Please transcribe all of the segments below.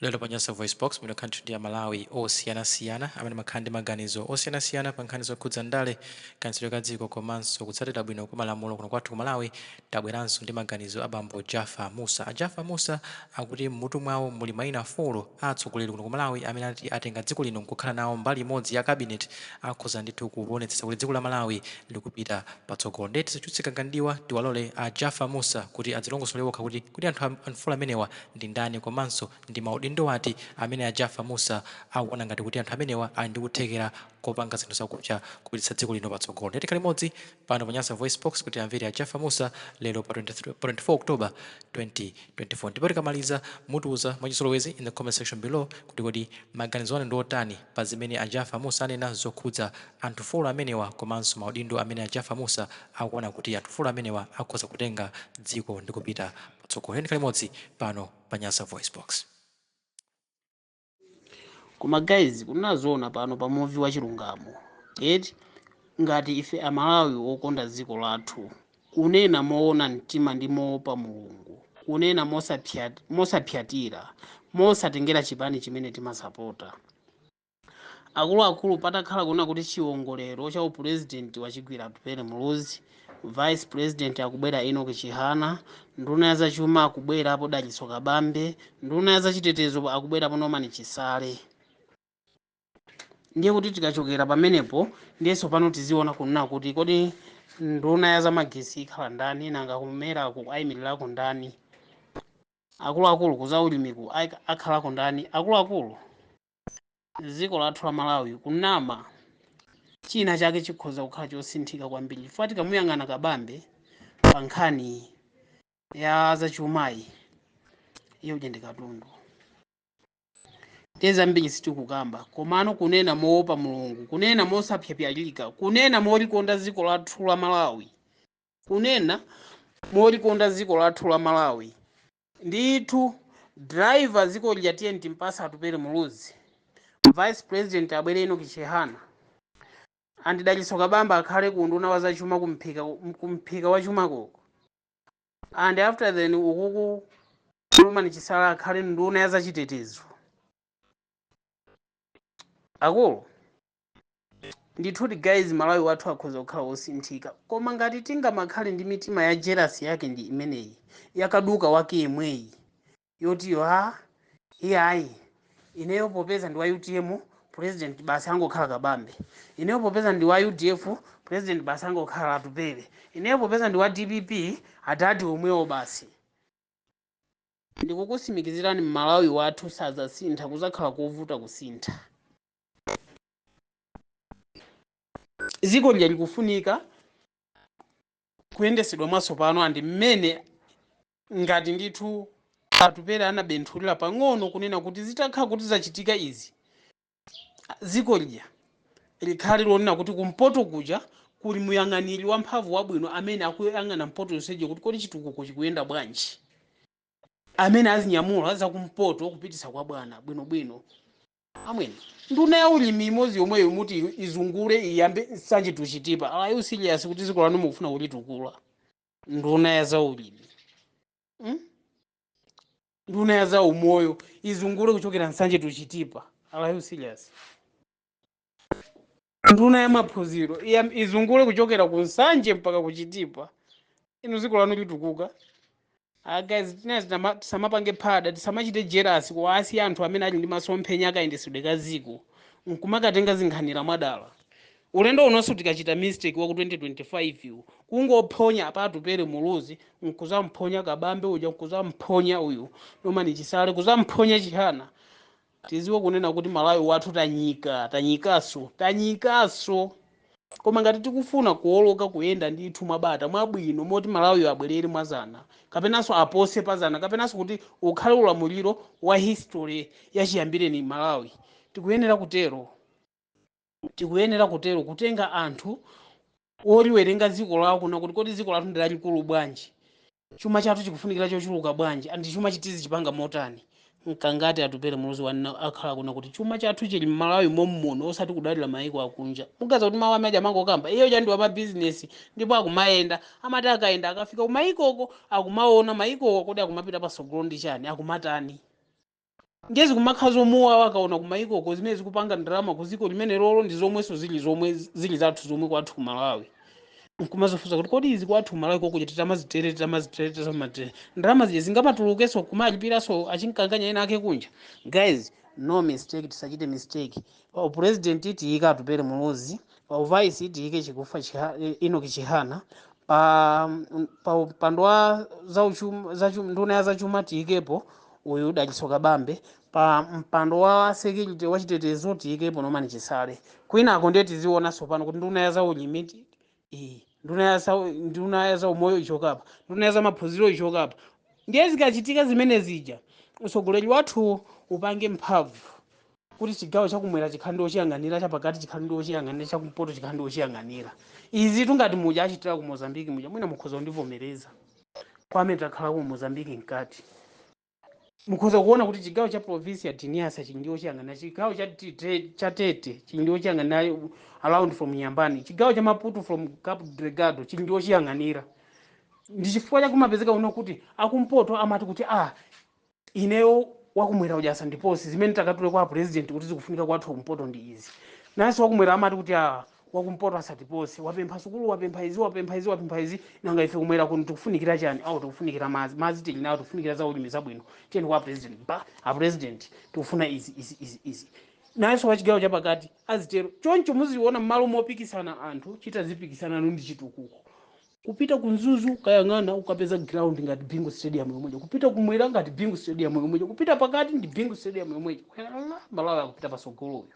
lero pa nyasa voice box ndimakhala ndithu ndi amalawi osiyanasiyana amene amakhala ndi maganizo osiyanasiyana pa nkhani zokhudza ndale kayendetsedwe ka dziko komanso kutsatira bwino kwa malamulo kuno kwathu ku malawi tabweranso ndi maganizo a bambo jaffa musa a jaffa musa akuti m'mutu mwawo muli mayina folo a atsogoleri kuno ku malawi amene ati atenga dziko lino nkukhala nawo mbali imodzi ya cabinet akhoza ndithu kuonetsetsa kuti dziko la malawi likupita patsogolo ndeti tisachulutse gaga mdiwa tiwalole a jaffa musa kuti adzilongosolere okha kuti kuti anthu am- folo amenewa ndi ndani komanso ndi ma udindo ati amene a Jaffa Mussa akuona ngati kuti anthu amenewa ali ndi kuthekera kopanga zinthu zakupsa kupititsa dziko lino patsogolo. Tiyeni tikhale limodzi pano pa Nyasa VoiceBox kuti tiamvere a Jaffa Mussa lero pa 24 October 2024. Ndipo tikamaliza mutiuza mwachizolowezi in the comment section below kuti kodi maganizo anu ndi otani pa zimene a Jaffa Mussa anena zokhudza anthu folo amenewa komanso ma udindo amene a Jaffa Mussa akuona kuti anthu folo amenewa akhoza kutenga dziko ndi kupita Tsogolo ndeti tikhale limodzi pano pa Nyasa VoiceBox. koma guys kunena zoona pano pa muvi wa chilungamo eti ngati ife amalawi okonda dziko lathu kunena moona mtima ndi moopa mulungu kunena mosapsyatira mosatengera chipani chimene timasapota Akuluakulu patakhala kunena kuti chiwongolero cha upulezidenti wachigwira Atupele Muluzi, vice president akubwera Enock Chihana, nduna ya zachuma akubwerapo Dalitso Kabambe, nduna ya zachitetezo akubwerapo Norman Chisale. Ndiye kuti tikachokera pamenepo ndiye tsopano tiziona kunena kuti kodi nduna ya zamagetsi ikhala ndani, nanga kumeraku ayimirirako ndani, akuluakulu ku zaulimiku akhalako ndani, akuluakulu. dziko lathu la malawi kunama china chake chikhoza kukhala chosinthika kwambiri chifukwa tikamuyang'ana kabambe pa nkhani ya zachumayi iye uja ndi katundu ndiye zambiri sitikukamba komano kunena moopa mulungu kunena mosapyapyalika kunena molikonda dziko lathu la malawi kunena molikonda dziko lathu la malawi Ndithu driver dziko lija tiyeni timpatse Atupele Muluzi, vice president abwere Enock Chihana and Dalitso Kabambe akhale ku unduna wa za chuma ku mphika ku mphika wa chuma ko uko and after then ukuku Norman Chisale akhale nduna ya za chitetezo. Akulu ndithudi guys malawi wathu akhoza kukhala wosinthika koma ngati tingamakhale ndi mitima ya jerasi yake ndi imeneyi yakaduka wake yemweyi yotiyo a iyayi ineyo popeza ndi wa utm president basi angokhala kabambe ineyo popeza ndi wa udf president basi angokhala atupele ineyo popeza ndi wa dpp adadi omwewo basi ndikukusimikizirani malawi wathu sazasintha kuzakhala kovuta kusintha dziko lija likufunika kuyendesedwa mwatsopano and mmene ngati ndithu atupere anabenthulira pang'ono kunena kuti zitakhala kuti zachitika izi dziko lija likhale lonena kuti kumpoto kuja kuli muyang'aniri wamphamvu wabwino amene akuyang'ana mpoto yonseje kuti kodi chitukuko chikuyenda bwanji amene azinyamula zakumpoto kupititsa kwa bwana bwinobwino Amwene, nduna ya ulimi imodzi yomweyo muti izungule iyambe nsanje to Chitipa? Are you serious kuti dziko lanu mukufuna kulitukula? Nduna ya zaulimi, mm? nduna ya zaumoyo izungule kuchokera nsanje to Chitipa? Are you serious? nduna ya maphunziro iya- izungule kuchokera ku nsanje mpaka ku chitipa inu dziko lanu litukuka Ah, guys tinezi tama- tisamapange phada tisamachite jerasi kuwasiya anthu amene ali ndi masomphenya akayendesedwe ka dziko nkumakatenga zinkhanira mwadala ulendo unonso tikachita mistake wa ku 2025 uwu kungophonya apa atupere muluzi nkuzamphonya kabambe uja nkuzamphonya uyu norman chisale kuzamphonya chihana Tiziwe kunena kuti Malawi wathu tanyika, tanyikaso, tanyikaso. Koma ngati tikufuna kuwoloka kuyenda ndithu mwa bata, mwa bwino moti Malawiyo abwelere mwa zana, kapenanso apose pa zana, kapenanso kuti ukhale ulamuliro wa history ya chiyambireni Malawi, tikuyenera kutero. tikuyenera kutero kutenga anthu oliwerenga dziko lawo kunena kuti kodi dziko lathu ndi lalikulu bwanji chuma chathu chikufunikira chochuluka bwanji and chumachi tizichipanga motani mkangati atupere muluzi wanena wakhala akunena kuti chuma chathu chili mmalawi mommuno osati kudalira mayiko akunja muganiza kuti mawu amaja amangokamba iye uja ndi wamabizinesi ndipo akumayenda amati akayenda akafika kumayikoko akumaona mayikowo kodi akumapita patsogolo ndi chani akumatani ndiye zikumakhala zomuwawa akaona kumayikoko zimene zikupanga ndalama ku ziko limene lolo ndi zomwenso zili zomwe zili zathu zomwe kwathu ku malawi nkumazifunsa kuti kodi izi kwathu ku malawi kokuja titamazitele titamazitele titamazitele ndalama zija zingamatulukenso kumalipiraso achinkanganya ena ake kunja guys no mistake tisachite mistake Pa upulezidenti tiyike Atupele Muluzi, pa uvaisi tiyike Chikufa Chiha, eh, Enoch Chihana, pa mm, pa mpando wa zauchu- zachuma nduna ya zachuma tiyikepo uyu Dalitso Kabambe, pa mpando wa security wachitetezo tiyikepo Norman Chisale. Kwinako ndiye tiziona tsopano kuti nduna ya zaulimi Eh, nduna ya sau- nduna ya zaumoyo ichokapa nduna ya zamaphunziro ichokapa ndiye zikachitika zimene zija utsogoleri wathuwo upange mphamvu kuti chigawo chakumwera chikhale ndi ochiyang'anira chapakati chikhale ndi ochiyang'anira chakumpoto chikhale ndi ochiyang'anira izi tungati muja achitira ku mozambiki muja mwina mukhoza kundivomereza kwa amene takhala ku mozambiki mkati mukhoza kuona kuti chigawo cha province ya Niassa chili ndi ochiyang'anira chigawo cha, T- Te- cha Tete chili ndi ochiyang'anira around from Inhambane chigawo cha Maputo from Cabo Delgado chili ndi ochiyang'anira ndi chifukwa chake kumapezeka uno kuti akumpoto amati kuti ah ineyo wakumwera ujasa sandiposi zimene takatule kwa president kuti zikufunika kwathu kumpoto ndi izi nanso wakumwera amati kuti ah wakumpoto asatipose wapempha sukulu wapempha izi wapempha izi wapempha izi nanga ife kumwera kuno tikufunikira chani awo tikufunikira madzi madzi tili nawo tikufunikira za ulimi zabwino tiyeni kwa president ba a president tikufuna izi izi izi izi nayenso wachigawo chapakati azitero choncho muziona mmalo mopikisana anthu tizipikisana ndi chitukuko kupita ku Mzuzu ukayang'ana ukapeza ground ngati bingu stadium yomweja kupita kumwera ngati bingu stadium yomweja kupita pakati ndi bingu stadium yomweja Ala, Malawi akupita pasogoloyo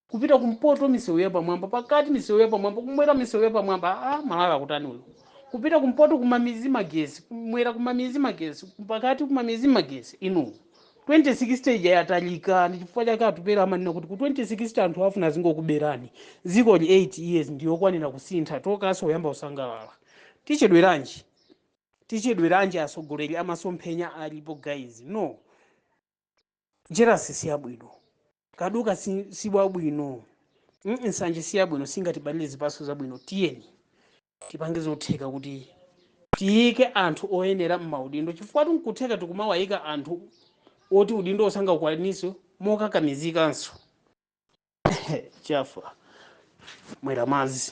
kupita kumpoto misewu yapamwamba pakati misewu yapamwamba kumwera misewu yapamwamba a Malawi akutani uyu kupita kumpoto kumamizi magesi kumwera kumamizi magesi pakati kumamizi magesi inu 2060 ija yatalika ndi chifukwa chake Atupele amanena kuti ku 2060 anthu afuna azingokuberani dzikoli 8 years ndiyokwanira kusintha tokaso uyamba kusangalala tichedweranji tichedweranji atsogoleri amasomphenya alipo guys no jealousy siyabwino kaduka si, si wabwino mm, nsanje si yabwino singatibalire zipatso zabwino tiyeni tipange zotheka kuti tiyike anthu oyenera m'maudindo chifukwa nkutheka tikumawayika anthu oti udindo osangaukwanitse mokakamizikanso chafa mwera madzi